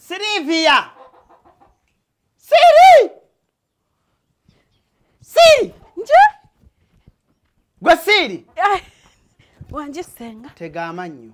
Silvia! Siri! Siri! Nje? Gwe Siri! Wangi senga. Tega amannyo.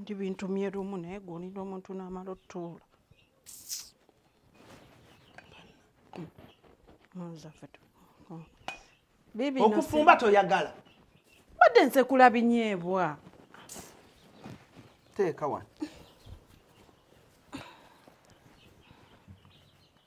ndi bintu myerumu naye gwolinda omuntu namala otuula okufumba toyagala badde nsekula binyeebwa teeka wano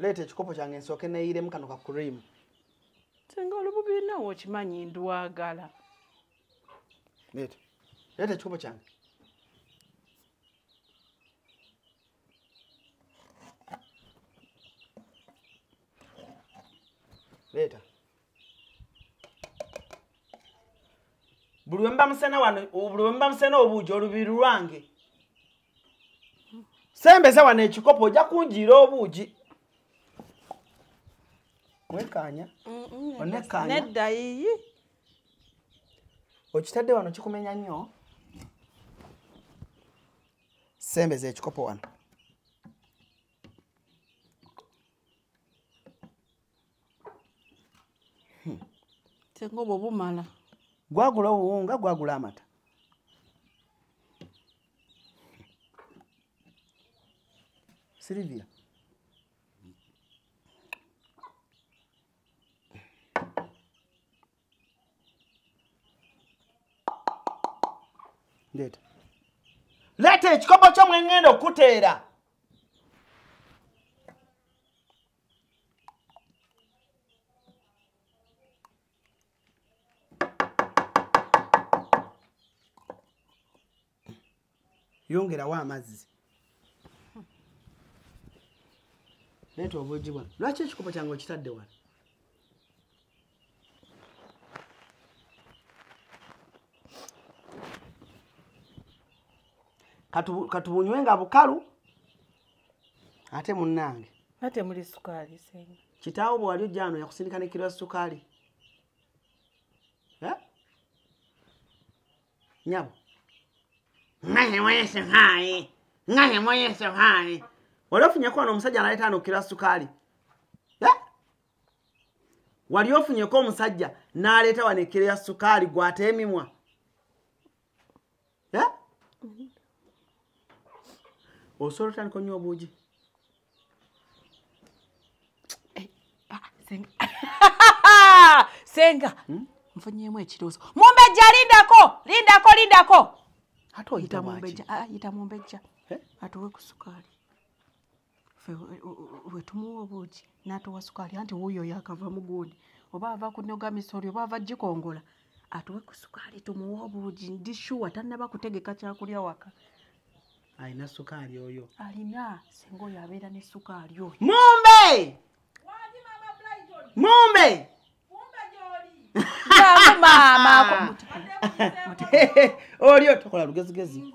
leeta ekikopo kyange nsooke neyiiremu kano ka kuriimu senga olububirinawo okimanyi ndwagala leeta leeta ekikopo kyange leeta buli wemba musena wano buli wemba musena obuugi olubiri lwange sembeza wano ekikopo ojja kunjiira obuugi wekanya onekanyaddayiyi okitadde wano kikumenya nnyo sembeza ekikopo wano hmm. senga obwo bumala gwagula obuwunga gwagula amata silivia ndeeta leeta ekikopo kyo mwengenda okuteera yongerawo amazzi leeta obuugi bwano lwaki ekikopo kyange okitadde wano katubunywe nga bukalu ate munange ate muli sukaali senga kitaawo bwewali ojjaano yakusindika ne kiro ya sukaali eh? nyabo ngahe mwese hayi ngahe mwese hayi wali ofunyeko wano omusajja analeeta ano kiro ya sukaali wali ofunyeko omusajja n'aleeta wano ekkiro ya sukaali gwateemimwa eh? osobola otandika onywa obuugi eh, ah, senga hmm? nfunyemu ekiroozo mumbejja lindako lindako lindako ate oyita mumbejja ah, atuwe ku sukaali wetumuwa obuugi natuwa sukaali anti wuuyo yakava mugundi oba ava kunoga misori oba ava gikongola atuwe ku sukaali tumuwe obuugi ndi shuwa tannaba kutegeka kyakulya waka alina sukaali oyo alina singa oyo abeera ne sukaali oyo mumbe mumbe maama olio tokola lugezigezi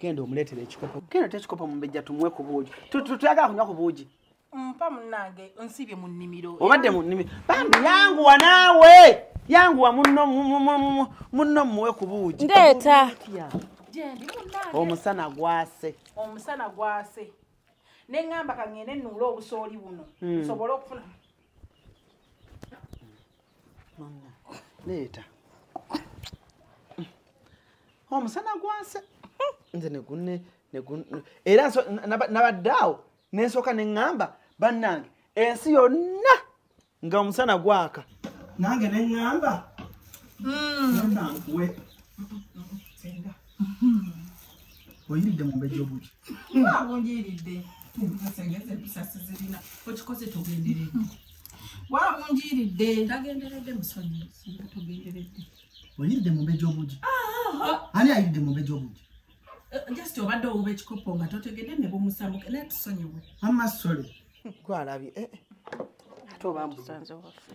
genda omuleetera ekikopo genda te ekikopo mubejja tumwe ku buugi tuyagala kunywa ku buugi mpa munange nsibye mu nnimiro obadde mu nnimiro bambi yanguwa naawe yanguwa munno munno muwe ku buugi ndeeta omusana gwase omusana gwase ne ŋŋamba ka ŋŋende nnuula obusooli buno hmm. nsobole okufuna Mama, leeta. Omusana oh, gwase. Nze ne gunne ne gun era so nabaddawo nensooka ne ŋŋamba bannange ensi yonna nga omusana gwaka nange ne ŋŋamba hmm. oyiridde mu mbejja obuki wabunjiiridde ensengeza empisa sizirina okikoze tugenderedde wabunjiiridde tagenderedde musonyi singa tugenderedde oyiridde mu mbejja obuki ani ayiridde mu mbejja obuki eh, just obadde owuba ekikopo nga totegedde ne bumusamuke naye tusonyiwe amasole gwalabye eh, eh. ate obambusanze waffe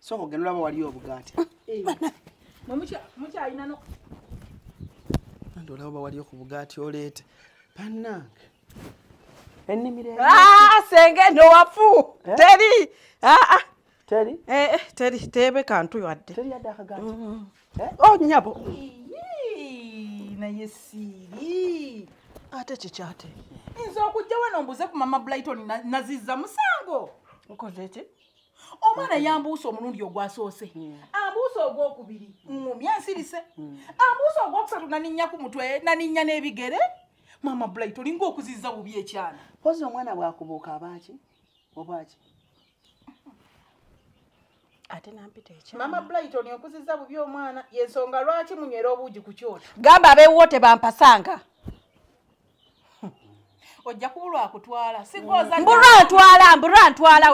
soko genda olaba waliyo obugaati mukyalina no andi olaba bawaliyo ku bugaati oleete bannange ennimiro ah, senge nowafu eh? teri ah, ah. teri eh, eh, teri teebe kantu yadde teri yadde akagaati o mm. oh, nyabo naye siiri ate kikyate nze okujja wano mbuze ku mama blighton naziza musango okoze ki omwana yambuusa omulundi ogwasoose ambuusa ogwokubiri ngumya nsirise ambuusa ogwokusatu naninnya ku mutwe naninnya n'ebigere maama bulayi tolinga okuziza bubi ekyana pozi omwana bwakubuuka abaaki obwaki ate nampita ekya mama brighton okuziza bubi omwana yensonga lwaki munywera obuugi ku kyoto gamba abeewuwo tebampasanga ojja kubulwa akutwala mbulwa ntwala mbulwa ntwala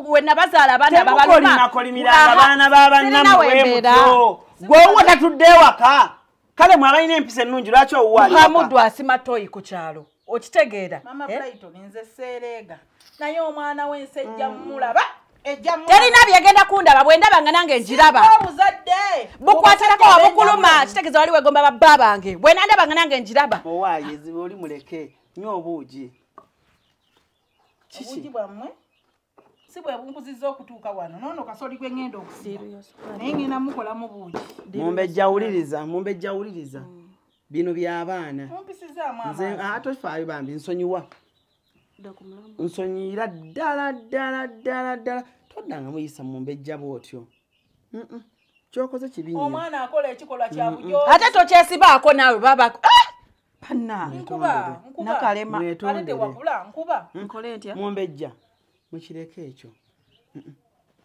we nabazaala abaana babalumaakolimiraga baana babannamuwemutyo gweowo tatudde ewaka kale mwe abalina empisa ennungi lwaki owuwamudu asima toyi ku kyalo okitegeera eh? naye omwana wensejja mm. mulaba terina byegenda kundaba bwendaba nga nange njiraba bukwatirako wabukuluma kitegeza wali wegomba babba bange bwenandaba nga nange njiraba si bwe bunkuziza okutuuka wano nono kasoli gwe ngenda okusiba naye ngenda mukolamu buugi mumbejja wuliriza mumbejja wuliriza mm. bino byabaana nze atofaayo ah, bambi nsonyiwa nsonyiyira ddala ddala ddala ddala toddanga muyisa mu mbejja bwotyo kyokoze kibiomwana akola ekikolwa kyabujo ate tokyesibaako naawe babako ah! bannange nakalema mumbejja mukireko ekyo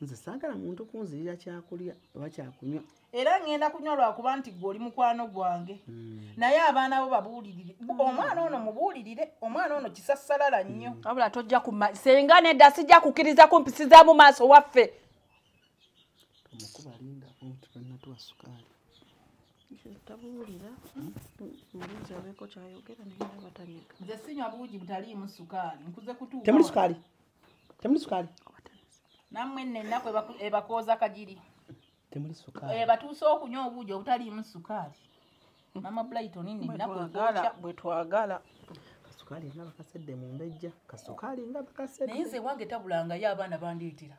nze saagala muntu kunzirira kyakulya oba kyakunywa era ŋŋenda kunywa lwakuba nti gwe oli mukwano gwange hmm. naye abaana bo babuulirire hmm. omwana ono mubuulirire omwana ono kisassalala nnyo hmm. wabula tojja kuma senga nedda sijja kukkiriza ku mpisi za mu maaso waffe omukubalinda omutukanatuwa sukaali tabuwulira mulinzi abeeko kyayogera naye naba tanyega nze sinywa buugi butaliimu sukaali nkuze kutuuka temuli sukaali temuli sukaali nammwe nno ennaku ebakooza kagiri temuli sukaali ebatuuse eh, okunywa obuugi obutaliimu sukaali mama brighton nno ennaku ekooca bwe twagala kasukaali nga bakasedde mu mbejja kasukaali nga bakasedde naye nze wange tabulangayo abaana bandeetera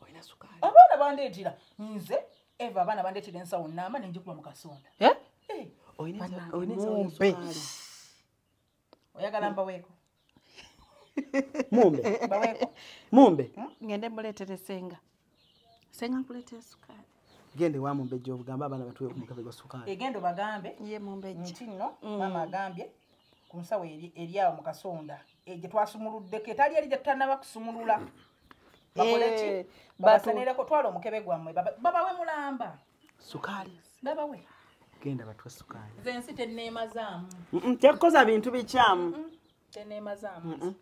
olina sukaali abaana bandeetera nze eva abaana bandeetera ensawo naama nenjikuba mu kasonda eh? Eh, mumbe oyagala mbaweeko mumbe mbaweeko mumbe hmm? ngende muleetere senga senga nkuleetere sukaali gende wa mumbejja obugamba abaana batuwe omugabe gwa sukaali egenda obagambe ye mumbejja nti nno hmm. maama agambye ku nsawo eri awo mu kasonda eh, gye twasumuluddeko etali eri gyetutanaba kusumulula bakoleki eh, babasenereko twala omukebe gwammwe babawe mulamba sukaali babawe genda batwa sukaali nze ensi teneemazaamu tekkoza bintu bikyamu teneemazaamu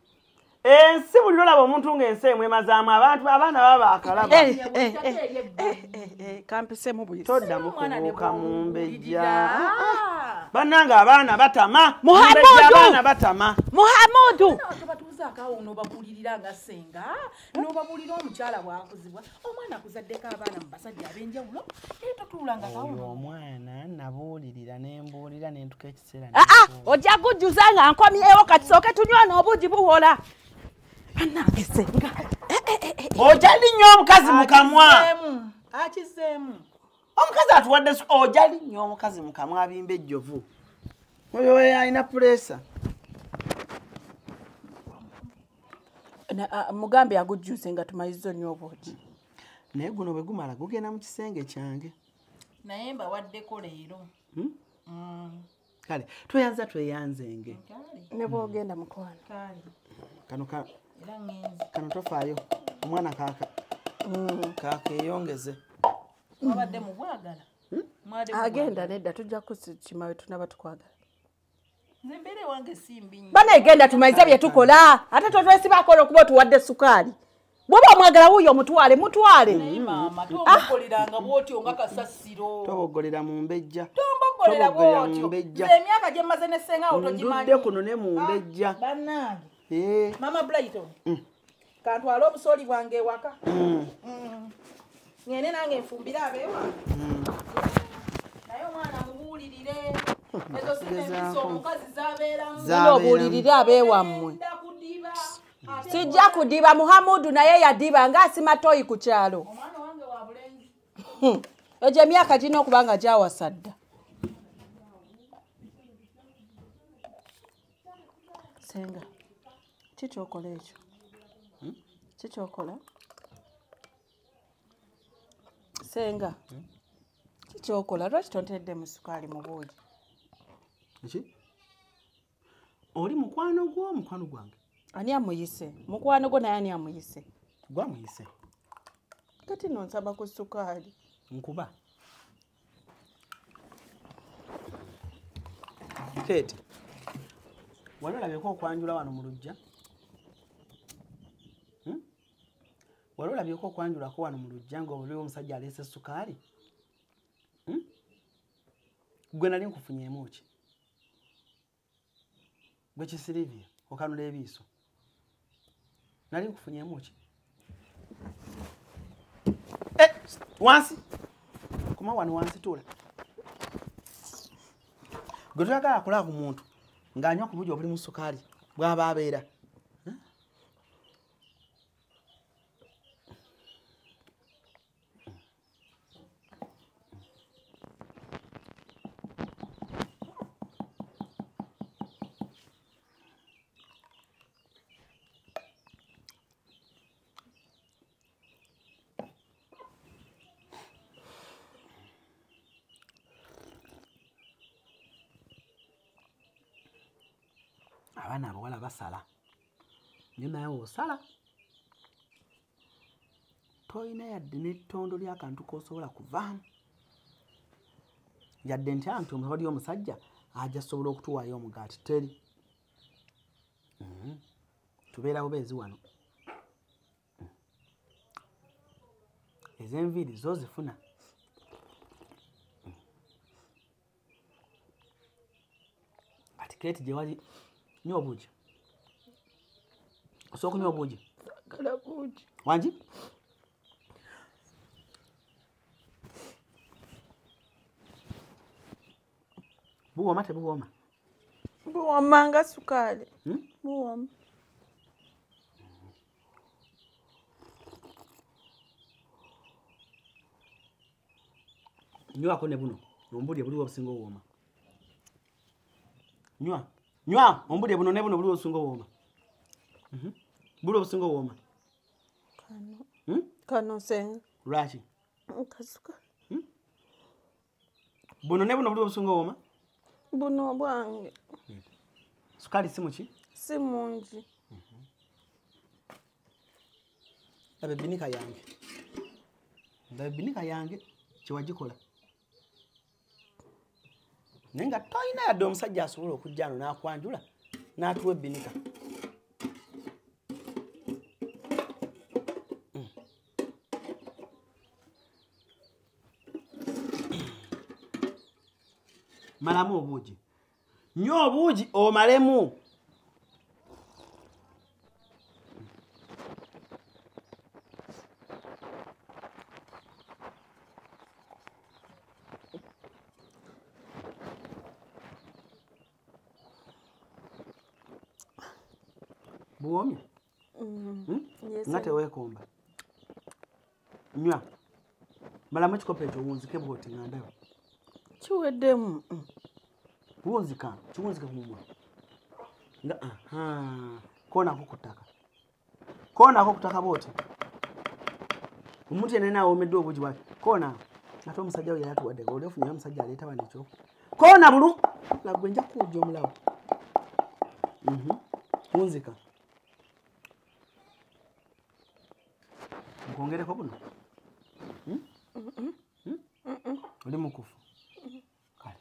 ensi eh, buli olaba omuntu ngaensi emwemazaamu abantu abaana baba bakalabakampisembuyitoddamukubuuka eh, eh, mu mbejja bannanga abaana batama muhamuduabaana batama muhamudu omwana nabuulirira nembuulira nentuka aa ah, ah, ojja kujjuza nga nkomyewo kati sooke tunywa n'obuugi buwola banange senga eh, eh, eh, oja linnyo omukazi mukamwa akizeemu omukazi atuwadde oja linnyo omukazi mukamwa abimba ejjovu oyo alina puleesa ah, mugambe agujjuze nga tumaliza onywa obuugi naye guno bwe gumala gugenda mu kisenge kyange naye mbawaddeko leero hmm? mm. kale tweyanza tweyangzenge nebwogenda mukwano kano kano tofaayo omwana kaka mm. kaka eyongeze wabadde mubwagala hmm? agenda nedda tujja kukimawe tunaba tukwagala bana egenda tumaize byetukola ate totwesibakola okuba otuwadde sukaali bwoba omwagala wuyo omutwale mutwale tobogolera mumbejja ndude kuno ne mumbejja ah, eh. mm. kantwale obusooli bwange ewaka mm. mm. ngende nange nfumbire abewa mm. naye omwana mubuulirire ezo sinebiso omukazi zabeeramuobuulirire abeewammwe sijja kudiba muhamudu naye yadiba nga asima toyi ku kyalo hmm. egyo emyaka girina okuba nga gyawasadda senga kikyokola ekyo hmm? kikyokola senga hmm? kikyokola lwaki tontedde mu sukaali mu buugi eki oli mukwano gwo mukwano gwange ani amuyise mukwano gwo naye ani amuyise gwamuyise kati nonsaba ku sukaali nkuba kate wali olabeko okwanjula wano mu lujja hmm? wali olabeko okwanjulako wano mu lujja nga obuliwo omusajja aleese esukaali hmm? gwe nali nkufunyeemu ki gwe kisilivia okanula ebiiso nali nkufunyemu ki eh, wansi kuma wano wansi tuula gwe toyagala akola ku muntu ng'anywa ku bugi obuli mu sukaali bw'aba abeera abaana abawala basala nyo naye osala tolina yadde n'ettondo ly'akantu k'osobola kuvaamu yadde ntya nti omutabadi omusajja aja sobola okutuwaayo omugaati teri mm-hmm. tubeera bubeezi wano mm. ez'enviiri zo zifuna kati keti gyewali nywa obuugi osobola okunywa obuugi wangi buwooma tebuwooma buwooma nga sukaali hmm? buwooma nywako ne buno ombulye buliwo obusinga owooma nywa nywa ombulye buno ne buno buliwo obusinga owooma mhm. buliwo obusinga owooma hmm? kanosenga lwaki nkasuka hmm? buno ne buno buliwo obusinga owooma buno obwange hmm. sukaali simuki si mungi laba ebinika yange laba ebinika yange kyewagikola naye nga tolina yadde omusajja asobola okujja ano n'akwanjula n'atuwa ebinika malamu obuugi nyo obuugi omalemu buwomi Mm. Hmm? Yes, nga sir. teweekomba nywa malamu ekikopo ekyo wunzike bwoti nga ndaba kiweddemu Mm. wunzika kiwunzike ku mumwa nga aha koonako ku ttaka koonako ku ttaka bwoti omuntu yenna awomeddwa obugi bwati koona ate omusajja we yalatuwaddeko oli ofunyeyo omusajja aleeta wano ekyo koona bulu lagwe nja kukuwujja omulawo Mhm. wunzika nkwongereko buno hmm? Hmm? oli mukufu kale